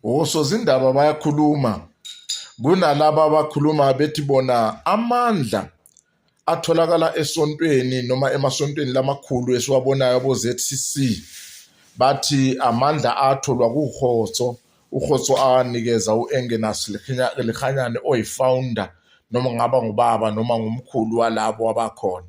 osozindaba bayakhuluma kunalaba abakhuluma bethi bona amandla atholakala esontweni noma emasontweni lamakhulu esiwabonayo abo-ZCC bathi amandla atholwa kuhotso uhotso anikeza u-engenas lihanyane oyi-founder noma ngaba ngubaba noma ngumkhulu walabo abakhona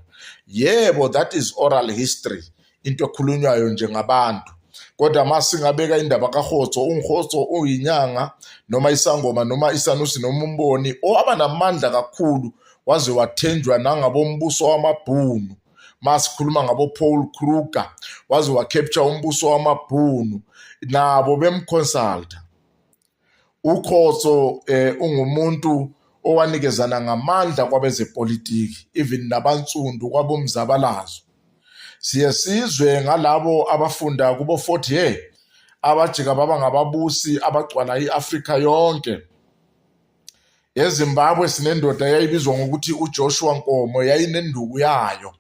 yebo that is oral history into ekhulunywayo nje ngabantu kodwa uma singabeka indaba kahotso ungihotso uyinyanga noma isangoma noma isanusi noma umboni owaba namandla kakhulu waze wathenjwa nangabombuso wamabhunu masikhuluma ngabo Paul Kruger waze wacapture umbuso wamabhunu nabo bemconsulta uKhoso eh ungumuntu owanikezana ngamandla kwabezepolitiki even nabansundu kwabomzabalazo siye sizwe ngalabo abafunda kubo 40 year abajika baba ngababusi abagcwala iAfrika yonke ezimbabwe sinendoda yayibizwa ngokuthi ujoshua nkomo yayinenduku yayo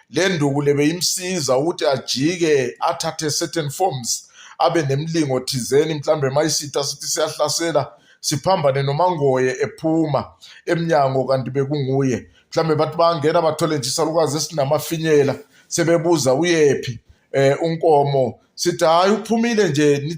le nduku le beyimsiza ukuthi ajike athathe certain forms abe nemlingo thizeni mhlawumbe mayisitha sithi siyahlasela siphambane nomangoye ephuma emnyango kanti bekunguye mhlawumbe bathi bangena bathole nje isalukwazi esinamafinyela sebebuza uyephi um unkomo sithi hhayi uphumile nje